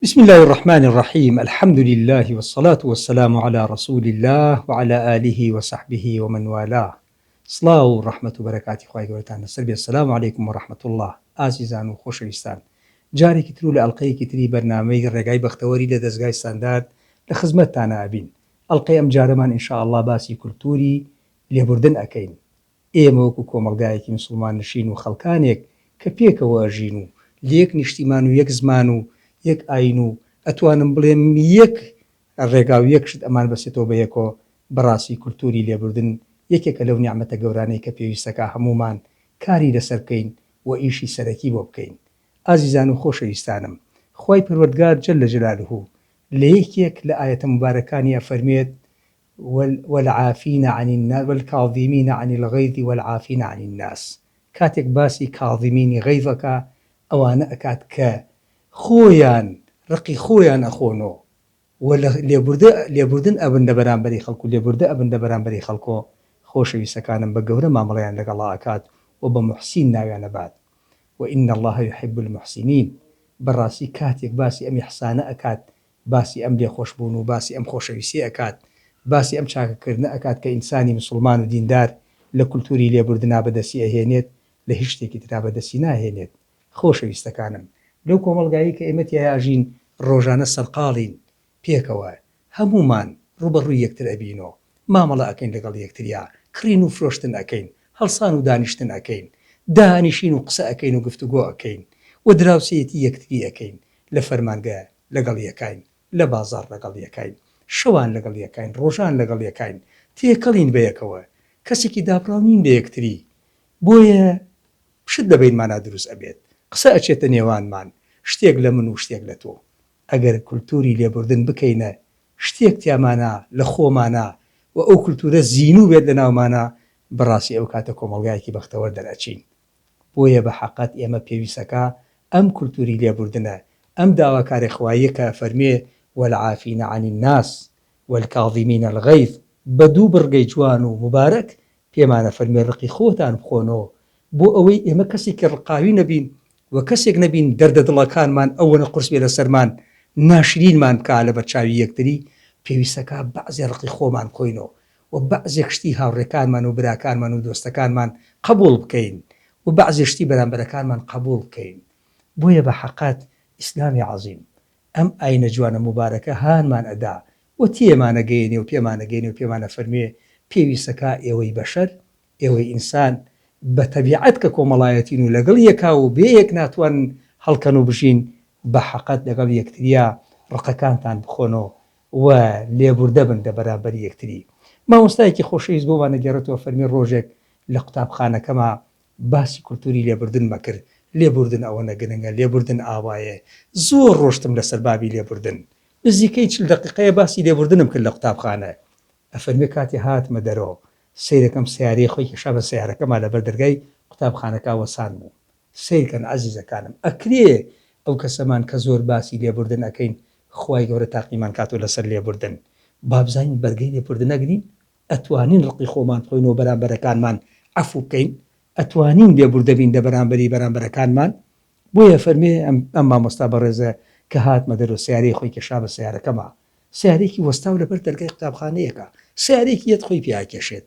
بسم اللە الرحمن الرحیم الحمد للە والصلاة والسلام علی رسول اللە وعلی آله وصحبه ومن والاه سڵاو و ڕەحمەت و بەرەکاتی خوای گەورەتان لەسەر بێت سلام علیکم و رحمە اللە ئازیزان و خۆشەویستان جارێکی تر و لە ئەڵقەیەکی تری بەرنامەی ڕێگای بەختەوەری لە دەزگای ستاندارد لە خزمەتتانا ئەبین ئەڵقەی ئەمجارەمان ان شاء اللە باسی کولتوری لێبوردن ئەکەین ئێمە وەکو کۆمەڵگایەکی مسوڵمان نشین و خەڵکانێک کە پێکەوە ئەژین و لە یەک نیشتیمان و یەک زمان و یەک ئاین و ئەتوانم بڵێم یەک ڕێگا و یەک شت ئەمان بەستێتەوە بە یەکۆ بەڕاستی کولتوری لێبوردن یەکێکە لەو نیعمەتە گەورانەی کە پێویستە کە هەموومان کاری لەسەر بکەین و ئیشی سەرەکی بۆ بکەین ئازیزان و خۆشەویستانم خوای پەروەردگار جل جلالە لە یەکێک لە ئایەتە موبارەکانی ئەفەرموێت والعافین عن الناس والکاظمین عن الغیظ والعافین عن الناس کاتێک باسی کاظمینی غیظ ئەکا ئەوانە ئەکات کە خۆیان ڕقی خۆیان ئەخۆنۆ و لە لێبوردە لێبوردن ئەبن لە بەرامبەری خەڵک و لێبوردە ئەبن لە بەرامبەری خەڵکۆ خۆشەویستەکانم بە گەورە مامەڵەیان لەگەڵا ئەکات و بە موحسین ناویان ئەبات وان اللە یحب المحسنین بەڕاستی کاتێک باسی ئەم ئیحسانە ئەکات باسی ئەم لێخۆش بوون و باسی ئەم خۆشەویستیە ئەکات، باسی ئەم چاکە کردنە ئەکات کە ئینسانی مسوڵمان و دیندار لە کولتوری لێبوردنا بەدەستی ئەهێنێت لە هیچ شتێکی ترا بەدەستی ناهێنێت. خۆشەویستەکانم لەو کۆمەڵگایەی کە ئێمە تیایا ئەژین ڕۆژانە سەرقاڵین پێکەوە هەموومان ڕووبەڕووی یەکتر ئەبین و مامەڵە ئەکەین لەگەڵ یەکتریا کڕین و فرۆشتن ئەکەین هەڵسان و دانیشتن ئەکەین دانیشین و قسە ئەکەین و گفتوگۆ ئەکەین و دراوسێیەتی یەکتری ئەکەین لە فەرمانگە لەگەڵ یەکاین، لە بازاڕ لەگەڵ یەکاین، شەوان لەگەڵ یەکاین، ڕۆژان لەگەڵ یەکاین، تێکەڵین بەیەکەوە، کەسێکی دابڕاو نین لە یەکتری، بۆیە شت لە بەینمانا دروست ئەبێت، قسە ئەچێتە نێوانمان، شتێک لە من و شتێک لە تۆ. ئەگەر کولتووری لێبوردن بکەینە شتێک تیامانا، لە خۆمانا و ئەو کولتوورە زینوو بێت لەناومانا، بەڕاستی ئەو کاتە کۆمەڵگایەکی بەختەوەر دەرئەچین، بۆیە بە حەقت ئێمە پێویستەکا ئەم کولتوری لێبوردنە، ئەم داواکاری خواییە کە ئەفەرموێ، والعافین عن الناس، والکاظمین الغیظ، بە دوو بڕگەی جوان و موبارەک پێمان ئەفەرموێ ڕقی خۆتان بخۆنۆ، بۆ ئەوەی ئێمە کەسێکی ڕقاوی نەبین و کەسێک نەبین دەردە دڵەکانمان ئەوەنە قورس بێ لەسەرمان ناشرینمان بکا لەبەرچاوی یەکتری، پێویستەکا بەعزێ ڕقی خۆمان بخۆینۆ و بەعزێک شتی هاوڕێکانمان و براکانمان و دۆستەکانمان قەبووڵ بکەین و بەعزێ شتی بەرامبەرەکانمان قەبووڵ بکەین بۆیە بە حەقت ئیسلامی عەزیم ئەم ئاینە جوانە موبارەکە هانمان ئەدا و تێمانەگەیەنێ و پێمانەگەیەنێ و پێمان ئەفەرموێ پێویستە کا ئێوەی بەشەر ئێوەی ئینسان بە تەبیعەت کە کۆمەڵایەتین و لەگەڵ یەکا و بێ یەک ناتوانن هەڵکەن و بژین بە حەقت لەگەڵ یەکتریا ڕقەکانتان بخۆن و و لێبوردە بن لە بەرامبەر یەکتری. مامۆستایەکی خۆشەویست بۆمان دەگێڕێتەوە فەرمی ڕۆژێک لە قوتابخانەکەما باسی کولتوری لێبوردنمە کرد، لێبوردن ئەوەنە گرنگە، لێبوردن ئاوایێ. زۆر ڕۆشتم لەسەر بابی لێبوردن. نزیکەی چل دەقیقەیە باسی لێبوردنم کرد لە قوتابخانە. ئەفەرمێ کاتێ هاتمە دەرۆ سەیرەکەم سەیارەی خۆی کێشا بە سەیارەکەما لەبەر دەرگای قوتابخانەکا وەسان بوو. سەیرکەن ئەزیزەکانم ئەکرێ ئەو کەسەمان کە زۆر باسی لێبوردن ئەکەین خوای گەورە تاقیمان کاتەوە لەسەر لێبوردن بابزانین بەرگەی لێبوردن ئەگرین ئەتوانین ڕقی خۆمان بخۆینەوە بەرامبەرەکانمان عەفو بکەین ئەتوانین لێبوردە بین لەبەرامبەری بەرامبەرەکانمان بۆیە فەرمی ئەم مامۆستا بەڕێزە کە هاتمە دەرەوە سەیارەی خۆی کێشا بە سەیارەکەما سەیارەیەکی وەستاو لەبەر دەرگای قوتابخانەیەکا سەیارەیەکی یەت خۆی پێ ئەکێشێت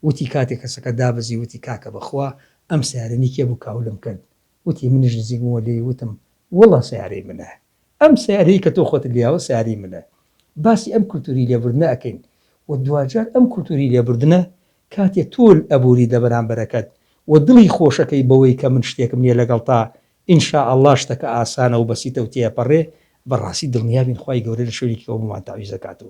وتی کاتێ کەسەکە دابەزی وتی کاکە بەخوا ئەم سەیارە نی کێ بوو کاولم کرد وتی منیش نزیک بومەوە لێی وتم وڵا سەیارەی منە ئەم سەیارەی کە تۆ خۆتت لیاوە سەیارەی منە باسی ئەم کلتوری لێبوردنە ئەکەین و دواجار ئەم کلتوری لێبوردنە کاتێ تۆ ئەبوری دەبەرامبەرەکەت و دڵی خۆشەکەی بەوەی کە من شتێکم نیە لەگەڵتا ان شاء اللە شتەکە ئاسانە و بەسیتە و تێئەپەرێ بەڕاستی دڵنیابین خوای گەورە لە شوێنێکی کەوە بۆمان تەعویزەکات و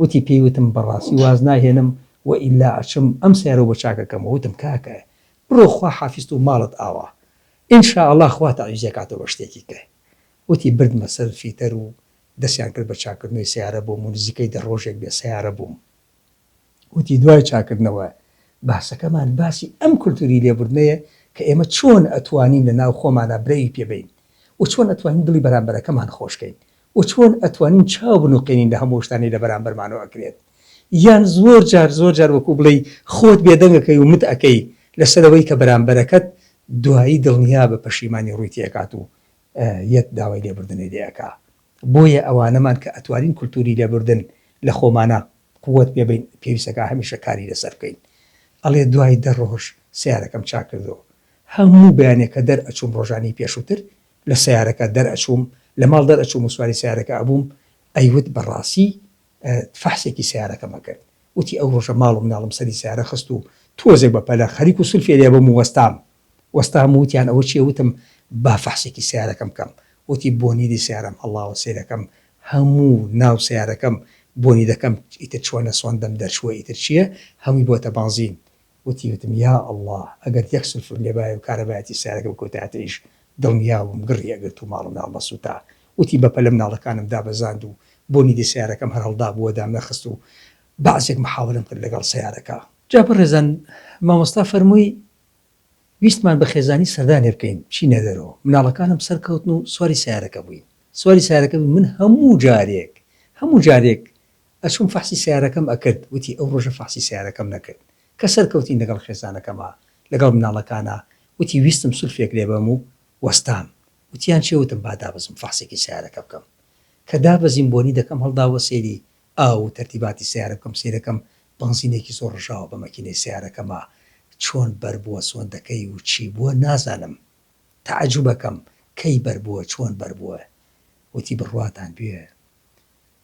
وتی پێی وتم بەڕاستی واز ناهێنم و ئیلا ئەچم ئەم سەیارە و بە چاکەکەم و وتم کاکە بڕۆ خوا حافیست و ماڵت ئاوا ان شاء اللە خوا تەعویز ئەکاتەوە بە شتێکی کە وتی بردمە سەر فیتەر و دەسیان کرد بە چاکردنەوەی سەیارە بۆم و نزیکەی دە ڕۆژێک بێ سەیارە بووم وتی دوای چاکردنەوە باسەکەمان باسی ئەم کولتوری لێبوردنەیە کە ئێمە چۆن ئەتوانین لە ناو خۆمانا برەوی پێ بەین و چۆن ئەتوانین دڵی بەرامبەرەکەمان خۆش کەین و چۆن ئەتوانین چاو بنوقێنین لە هەموو ئەو شتانەی لە بەرامبەرمانەوە ئەکرێت یان زۆر جار زۆر جار وەکو بڵێی خۆت بێدەنگ ئەکەی و مت ئەکەی لەسەر ئەوەی کە بەرامبەرەکەت دوایی دڵنیابە پەشیمانی ڕووی تێئەکات و یەت داوای لێبوردنی لێ ئەکا بۆیە ئەوانەمان کە ئەتوانین کولتوری لێبوردن لە خۆمانا قوت پێ بەین پێویست ئەکا هەمیشە کاری لەسەر بکەین ئەڵێ دوای دە ڕۆژ سەیارەکەم چاک کردەوە هەموو بەیانێ کە دەر ئەچووم ڕۆژانی پێشووتر لە سەیارەکە دەر ئەچووم لە ماڵ دەر ئەچووم و سواری سەیارەکە ئەبووم ئەیوت بە ڕاسی فەحسێکی سەیارەکەم ئەکرد وتی ئەو ڕۆژە ماڵ و مناڵم سەری سەیارە خست و تۆزێک بە پەلە خەریک و سولفێ لێ بووم و وەستام وەستام و وتیان ئەوە چیە وتم با فەحسێکی سەیارەکەم بکەم وتی بۆنیدی سەیارەم هەڵاوە سەیرەکەم هەموو ناو سەیارەکەم بۆنی دەکەم ئیتر چۆنە سۆندەم دەرچووە ئیتر چیە هەمووی بۆتە بانزین وتی وتم یا اللە ئەگەر یەک سولفور لێبایە و کارەبایەتی سەیارەکە بکوتایەتەیش دڵنیابووم گڕی ئەگرت و ماڵومناڵ نەسوتا وتی بەپەلە مناڵەکانم دابەزاند و بۆنی دەی سەیارەکەم هەر هەڵدابوو وەدام نەخست و بەعسێک محاولەم کرد لەگەڵ سەیارەکە. جا بەڕێزان مامۆستا فەرمووی ویستمان بە خێزانی سەردانێ بکەین چینە دەرۆ مناڵەکانم سەرکەوتن و سواری سەیارەکە بووین سواری سەیارەکە بووین من هەموو جارێک هەموو جارێک ئەچووم فەحسی سەیارەکەم ئەکرد وتی ئەو ڕۆژە فەحسی سەیارەکەم نەکرد کە سەرکەوتین لەگەڵ خێزانەکەما لەگەڵ مناڵەکانا وتی ویستم سولفێک لێبەم و وەستام وتیان چێ وتم با دابەزم فەحسێکی سەیارەکە بکەم کە دابەزیم بۆنی دەکەم هەڵداوە سەیری ئاو و تەرتیباتی سەیارە بکەم سەیرەکەم بەنزینێکی زۆر ڕژاوە بە مەکینەی سەیارەکەما چۆن بەربووە سۆندەکەی و چی بووە نازانم تەعەجوبەکەم کەی بەربووە چۆن بەربووە وتی بڕواتان بوێ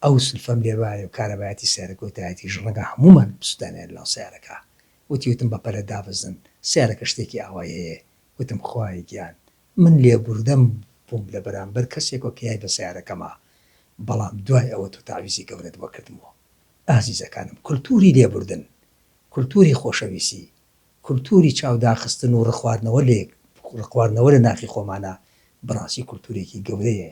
ئەو سلفەم لێ بایە و کارەبایەتی سەیارە کۆتایەتیش ڕەنگە هەموومان بسوتانێ لەناو سەیارەکە وتی وتم بەپەلە دابەزن سەیارەکە شتێکی ئاوای هەیە وتم خوایە گیان من لێبوردەم بووم لە بەرامبەر کەسێکەوە کە یای بە سەیارەکەما بەڵام دوای ئەوە تۆ تەعویزی گەورەت بۆ کردمەوە ئازیزەکانم کلتوری لێبوردن کلتوری خۆشەویسی کلتوری چاو داخستن و ڕقواردنەوە لە یەک ڕقواردنەوە لە ناخی خۆمانا بەڕاستی کلتورێکی گەورەیە